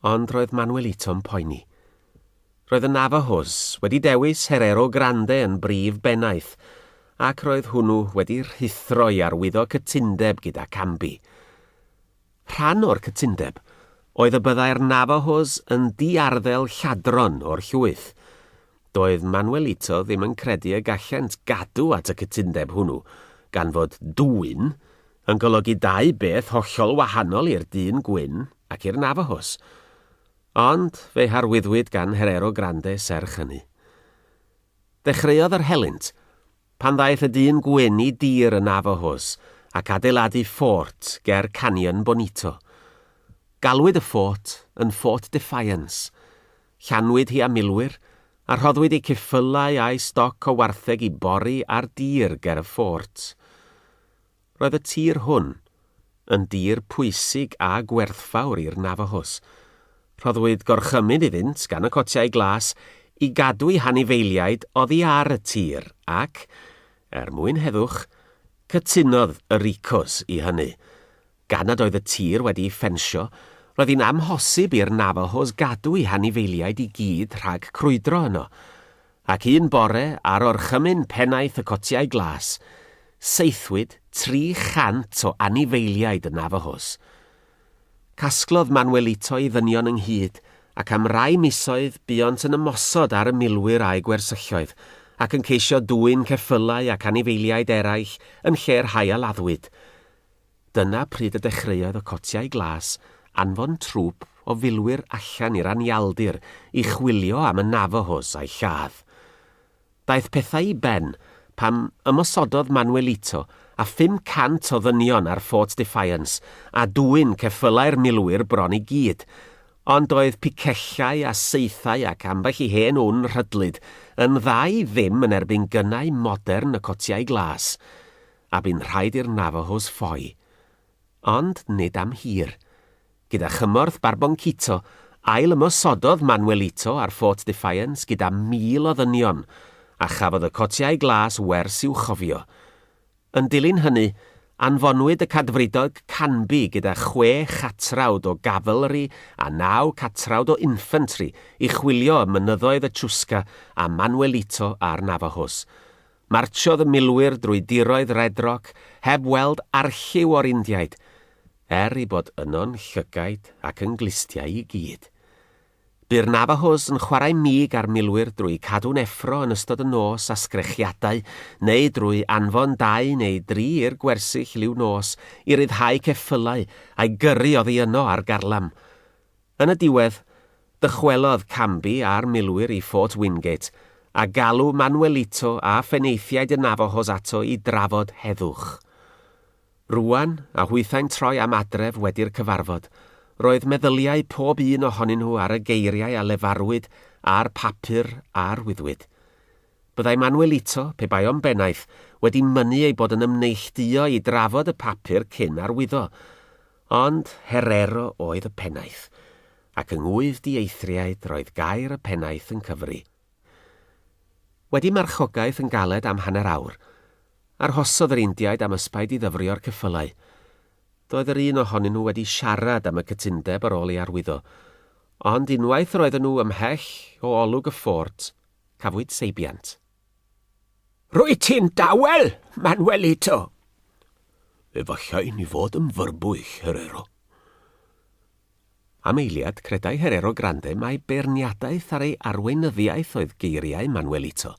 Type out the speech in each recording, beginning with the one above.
Ond roedd Manuelito'n poeni. Roedd y Navajos wedi dewis Herrero Grande yn brif bennaeth, ac roedd hwnnw wedi rhuthro i arwyddo cytundeb gyda Camby. Rhan o'r cytundeb oedd y byddai'r Navajos yn di-arddel lladron o'r llwyth. Doedd Manuelito ddim yn credu y gallent gadw at y cytundeb hwnnw, gan fod 'dwyn' yn golygu dau beth hollol wahanol i'r dyn gwyn ac i'r Navajos. Ond fe'i harwyddwyd gan Herero Grande serch hynny. Dechreuodd yr helynt, pan ddaeth y dyn gwyn i dir y Navajos ac adeiladu ffort ger Canyon Bonito. Galwyd y ffort yn Fort Defiance. Llanwyd hi â milwyr, a rhoddwyd eu ceffylau a'u stoc o wartheg i bori ar dir ger y ffort. Roedd y tir hwn yn dir pwysig a gwerthfawr i'r Navajos. Rhoddwyd gorchymyn iddynt gan y Cotiau Glas i gadw'u hanifeiliaid oddi ar y tir, ac, er mwyn heddwch, cytunodd y Ricos i hynny. Gan nad oedd y tir wedi'i ffensio, roedd hi'n amhosib i'r Navajos gadw'u hanifeiliaid i gyd rhag crwydro yno. Ac un bore, ar orchymyn pennaeth y Cotiau Glas, saethwyd 300 o anifeiliaid y Navajos. Casglodd Manuelito ei ddynion ynghyd, ac am rai misoedd buont yn ymosod ar y milwyr a'u gwersylloedd, ac yn ceisio dwyn ceffylau ac anifeiliaid eraill yn lle'r rhai a laddwyd. Dyna pryd y dechreuodd y cotiau glas anfon trwp o filwyr allan i'r anialdir i chwilio am y Navajos a'u lladd. Daeth pethau i ben pan ymosododd Manuelito a 500 o ddynion ar Fort Defiance a dwyn ceffylau'r milwyr bron i gyd, ond doedd picellau a saethau ac ambell i hen wn rhydlyd yn dda i ddim yn erbyn gynnau modern y cotiau glas. a bu'n rhaid i'r Navajos ffoi. Ond nid am hir. Gyda chymorth Barboncito, ail-ymosododd Manuelito ar Fort Defiance gyda 1,000 o ddynion, a chafodd y cotiau glas wers i'w chofio. Yn dilyn hynny, anfonwyd y Cadfridog Canby gyda chwe chatrawd o Gavalry a naw catrawd o Infantry i chwilio ym mynyddoedd y Chusca am Manuelito a'r Navajos. Martsiodd y milwyr drwy diroedd Red Rock heb weld arlliw o'r Indiaid, er eu bod yno'n llygaid ac yn glustiau i gyd. Bu'r Navajos yn chwarae mig â'r milwyr drwy cadw'n effro yn ystod y nos â sgrechiadau neu drwy anfon dau neu dri i'r gwersyll liw nos i ryddhau ceffylau a'i gyrru oddi yno ar garlam. Yn y diwedd, dychwelodd Canby a'r milwyr i Fort Wingate, a galw Manuelito a phenaethiaid y Navajos ato i drafod heddwch. Rŵan, a hwythau'n troi am adref wedi'r cyfarfod, roedd meddyliau pob un ohonyn nhw ar y geiriau a lefarwyd a'r papur a arwyddwyd. Byddai Manuelito, pe bai o'n bennaeth, wedi mynnu ei bod yn ymneillduo i drafod y papur cyn arwyddo. Ond Herero oedd y pennaeth, ac yng ngwydd dieithriaid roedd gair y pennaeth yn cyfri. Wedi marchogaeth yn galed am hanner awr, arhosodd yr Indiaid am ysbaid i ddyfrio'r ceffylau. Doedd yr un ohonyn nhw wedi siarad am y cytundeb ar ôl ei arwyddo, ond unwaith yr oedden nhw ymhell o olwg y ffort, cafwyd seibiant. Rwyt ti'n dawel, Manuelito! Efallai ni fod yn fyrbwyll, Herero. Am eiliad, credai Herero Grande mai beirniadaeth ar ei arweinyddiaeth oedd geiriau Manuelito.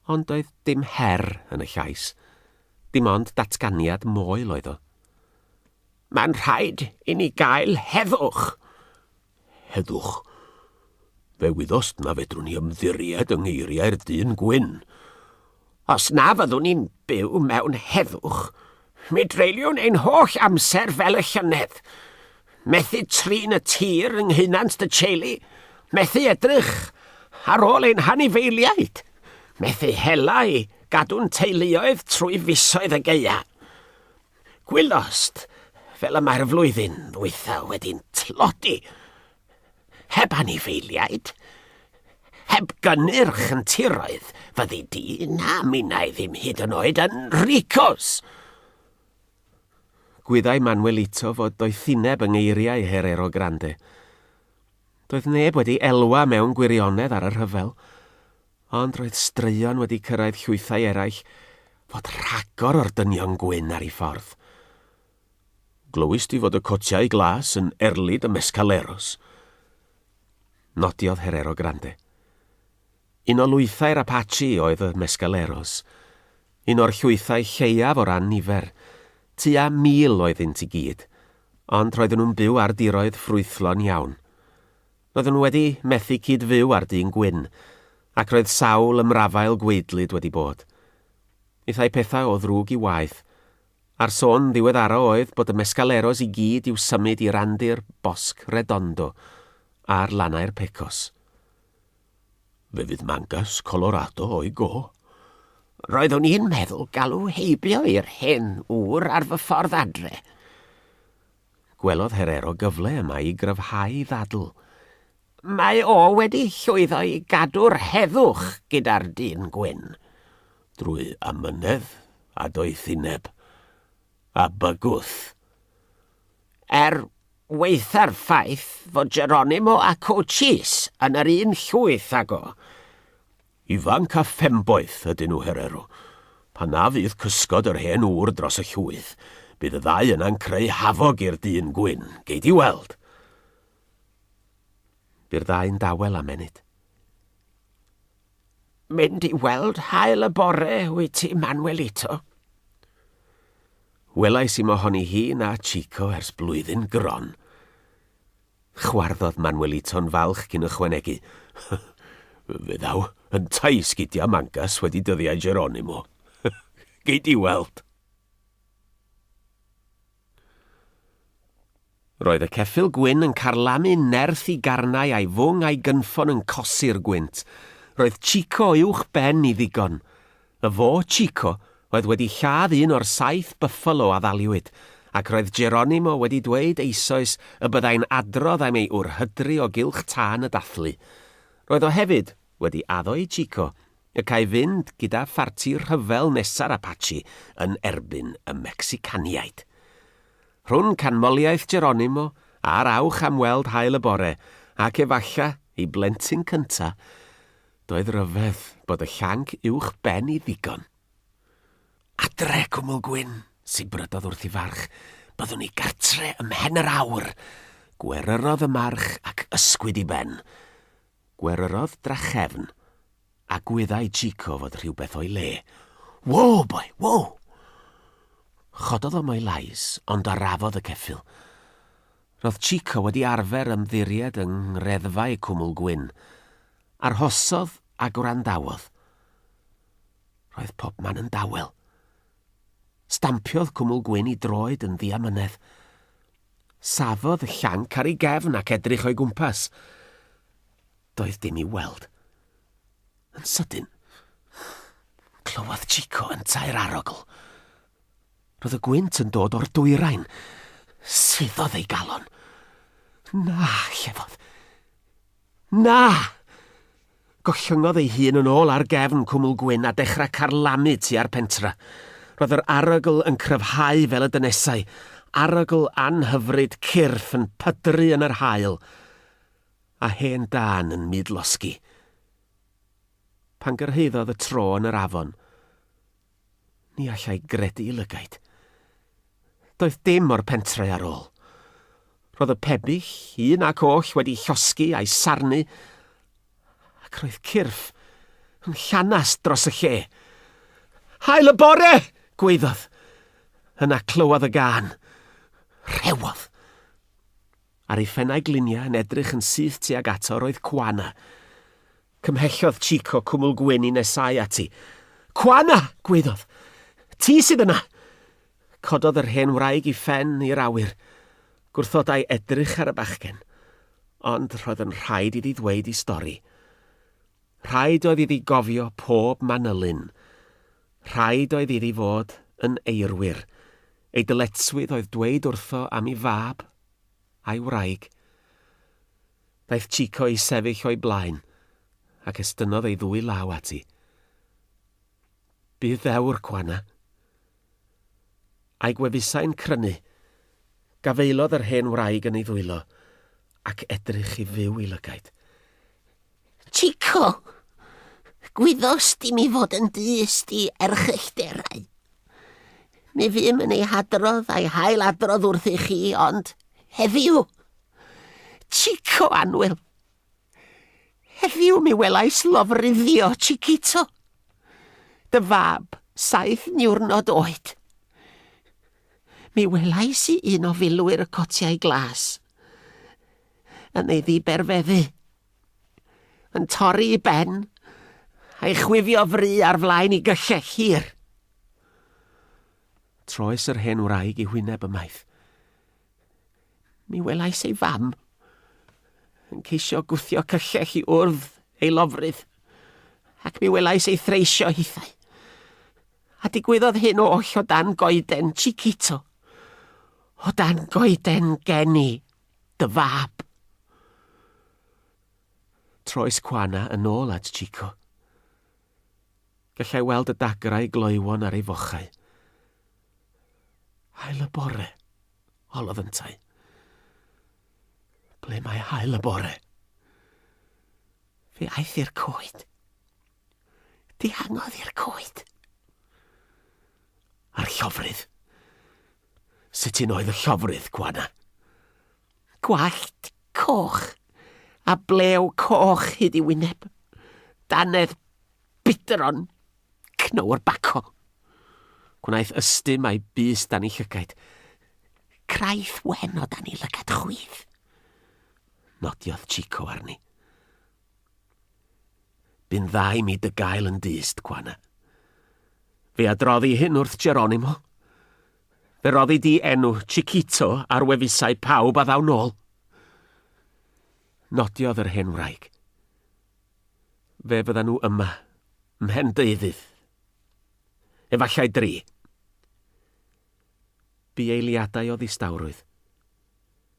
Ond doedd dim her yn y llais. Dim ond datganiad moel oedd o. Mae'n rhaid i ni gael heddwch! Heddwch. Fe wyddost na fedrwn ni ymddiried yng ngeiriau'r dyn gwyn. Os na fyddwn ni'n byw mewn heddwch, mi dreiliwn ein holl amser fel y llynedd. Methu trin y tir yng nghynnant dy teulu, methu edrych ar ôl ein hanifeiliaid, methu hela i gadw'n teuluoedd trwy fisoedd y geia. Gwylost, fel y mae'r flwyddyn ddwytha wedi'n tlodi. Heb anifeiliaid, heb gynnyrch yn tiroedd, fyddi di na minnau ddim hyd yn oed yn ricos. Gwyddai Manuelito fod doethineb yng ngeiriau Herero Grande. Doedd neb wedi elwa mewn gwirionedd ar y rhyfel. Ond roedd straeon wedi cyrraedd llwythau eraill fod rhagor o'r dynion gwyn ar ei ffordd. Glywist ti fod y cotiau glas yn erlid y Mescaleros? Nodiodd Herero Grande. Un o lwythau'r Apache oedd y Mescaleros. Un o'r llwythau lleiaf o ran nifer. Tua mil oeddynt i gyd, ond roedden nhw'n byw ar diroedd ffrwythlon iawn. Roeddwn nhw wedi methu cyd-fyw â'r dyn gwyn, ac roedd sawl ymrafael gwaedlyd wedi bod. Hithau pethau o ddrwg i waeth, a'r sôn ddiweddara oedd bod y mescaleros i gyd i'w symud i randir Bosc Redondo ar lannau'r Pecos. Fe fydd mangas Colorado o'i go. Roeddwn i'n meddwl galw heibio i'r hen ŵr ar fy ffordd adre. Gwelodd Herero gyfle yma i gryfhau ei ddadl. Mae o wedi llwyddo i gadw'r heddwch gyda'r dyn gwyn. Drwy amynedd a doethineb. A bygwth. Er waetha'r ffaith fod Geronimo a Cochise yn yr un llwyth ag o. Ifanc a phemboeth ydyn nhw, Herero. Pan na fydd cysgod yr hen ŵr dros y llwyth, bydd y ddau yna'n creu hafog i'r dyn gwyn, gei di weld! Bu'r ddau'n dawel am ennyd. Mynd i weld hael y bore, wyt ti, Manuelito? Welais i mohoni hi na Chico ers blwyddyn gron. Chwarddodd Manuelito'n falch cyn ychwanegu, Fe ddaw yntau i sgidiau Mangas wedi dyddiau Geronimo. Gei di weld! Roedd y ceffyl gwyn yn carlamu nerth i garnau a'i fwng a'i gynffon yn cosi'r gwynt. Roedd Chico uwch ben i ddigon. Y fo, Chico, oedd wedi lladd un o'r saith byffalo a ddaliwyd, ac roedd Geronimo wedi dweud eisoes y byddai'n adrodd am ei wrhydri o gylch tân y dathlu. Roedd o hefyd wedi addo i Chico y câi fynd gyda pharti rhyfel nesa'r Apache yn erbyn y Mecsicaniaid. Rhwn canmoliaeth Geronimo a'r awch am weld haul y bore, ac efalla, ei blentyn cynta', Doedd ryfedd bod y llanc uwch ben i ddigon. Adre, Cwmwl Gwyn! sibrydodd wrth i farch, Byddwn ni gartre ym mhen yr awr! Gweryrodd y march ac ysgwyd i ben. Gweryrodd drachefn, a gwyddai Chico fod rhywbeth o'i le. Whoa, boy, whoa! Chododd o mo'i lais, ond arafodd y ceffyl. Roedd Chico wedi arfer ymddiried yng Ngreddfau Cwmwl Gwyn. Arhosodd a gwrandawodd. Roedd pobman yn dawel. Stampiodd Cwmwl Gwyn i droed yn ddiamynedd. Safodd y llanc ar ei gefn ac edrych o'i gwmpas. Doedd dim i'w weld. Yn sydyn, clywodd Chico yntau'r arogl. Roedd y gwynt yn dod o'r dwyrain. Suddodd ei galon. Na, llefodd. Na! Gollyngodd ei hun yn ôl ar gefn cwmwl gwyn a dechrau carlamu tua'r pentra. Roedd yr arogl yn cryfhau fel y dynesau, arogl anhyfryd cyrff yn pydru yn yr haul, a hen dân yn mudlosgi. Pan gyrhaeddodd y tro yn yr afon, Ni allai gredu i lygaid. Doedd dim o'r pentre ar ôl. Roedd y pebyll, un ac oll, wedi llosgi a'i sarnu, ac roedd cyrff yn llanast dros y lle. Hael y bore! gwaeddodd. Yna clywodd y gân. Rhewodd. ar ei phennau gliniau yn edrych yn syth tuag ato roedd Cwana. Cymhellodd Chico cwmwl gwyn i nesau ati. Cwana! gwaeddodd. Ti sydd yna! Cododd yr hen wraig i phen i'r awyr. Gwrthodai edrych ar y bachgen. Ond roedd yn rhaid iddi ddweud i stori. Rhaid oedd iddi gofio pob manylyn. Rhaid oedd iddi fod yn eirwyr. Ei dyletswydd oedd dweud wrtho am ei fab, a'i wraig. Daeth Chico i sefyll o'i blaen, ac estynnodd ei ddwy law ati. Bu ddewr, Juana. A'i gwefusau'n crynu. Gafaelodd yr hen wraig yn ei ddwylo, ac edrych i fyw i lygaid. Chico! Gwyddost di mi fod yn dyst i erchyllterau. Mi fym yn ei hadrodd a'i hail adrodd wrthych chi, ond heddiw... Chico Anwyl! Heddiw mi welais lofruddio, Chiquito. Dy fab, saith niwrnod oed. Mi welais i un o filwyr y cotiau glas. yn ei ddiberfeddu, yn torri i ben, a'i chwifio fry ar flaen i gyllell hir. Troes yr hen wraig i hwyneb ymaith. Mi welais ei fam yn ceisio gwthio cyllell i wrdd ei lofrydd, ac mi welais ei threisio hithau. A digwyddodd hyn oll o dan goeden Chiquito, o dan goeden geni. Dy fab! Troes Juana yn ôl at Chico. Gallai weld y dagrau gloywon ar ei fochau. Hael y bore, holof yntau. Ble mae hael y bore? Fe aeth i'r coed. dihangodd i'r coed. A'r llofrudd? Sut un oedd y llofrudd, Gwana? Gwallt coch a blew coch hyd i wyneb. Danedd bidron cnywr baco. Gwnaeth ystum a'i bus dan ei llygaid. Craith wen o dan ei lygad chwith. Nodiodd Chico arni. Bu'n dda i mi dy gael yn dyst, Juana. Fe adroddi hyn wrth Geronimo. Fe roddi di enw Chiquito ar wefusau pawb a ddaw nôl. Nodiodd yr hen wraig. Fe fydda nhw yma, mhen deuddydd. Efallai dri. Bu eiliadau o ddistawrwydd.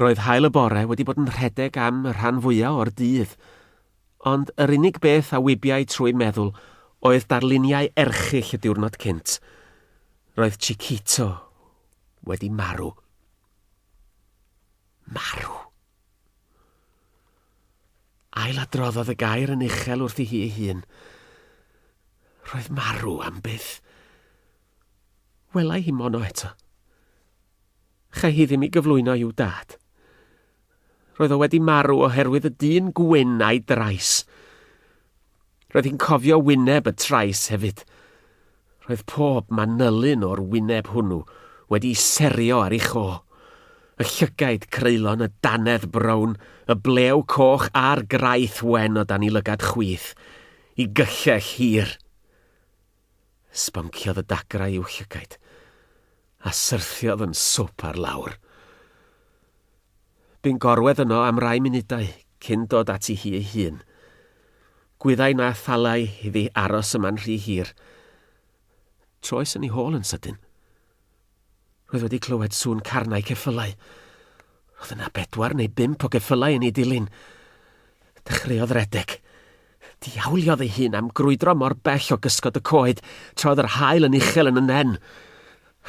Roedd haul y bore wedi bod yn rhedeg am y rhan fwya o'r dydd, ond yr unig beth a wibiai trwy'm meddwl oedd darluniau erchyll y diwrnod cynt. Roedd Chiquito wedi marw. Marw. Ailadroddodd y gair yn uchel wrthi hi ei hun. Roedd marw am byth. Welai hi mono eto. Chai hi ddim i gyflwyno i'w dad. Roedd o wedi marw oherwydd y dyn gwyn a'i drais. Roedd hi'n cofio wyneb y trais hefyd. Roedd pob manylyn o'r wyneb hwnnw wedi serio ar ei cho. Y llygaid creulon, y danedd brown, y blew coch a'r graith wen o dan i lygad chwith, i gyllell hir. Sbonciodd y dagrau i'w llygaid, a syrthiodd yn swp ar lawr. Bu'n gorwedd yno am rai munudau cyn dod ati hi ei hun. Gwyddai na thallai iddi aros yma'n rhy hir. Troes yn ei hôl yn sydyn. Roedd wedi clywed sŵn carnau ceffylau. Roedd yna bedwar neu bump o geffylau yn ei dilyn. Dechreuodd redeg. Diawliodd ei hun am grwydro mor bell o gysgod y coed tra oedd yr haul yn uchel yn y nen.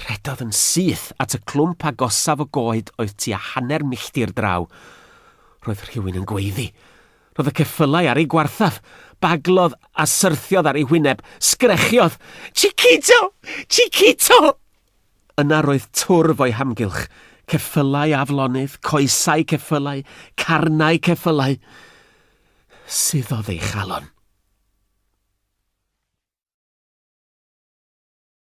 Rhedodd yn syth at y clwmp agosaf o goed oedd tua hanner milltir draw. Roedd rhywun yn gweiddi. Rhodd y ceffylau ar ei gwarthaf, baglodd a syrthiodd ar ei wyneb, sgrechiodd, Chiquito! Chiquito! Yna roedd twrf o'i hamgylch, ceffylau aflonydd, coesau ceffylau, carnau ceffylau. Suddodd ei chalon.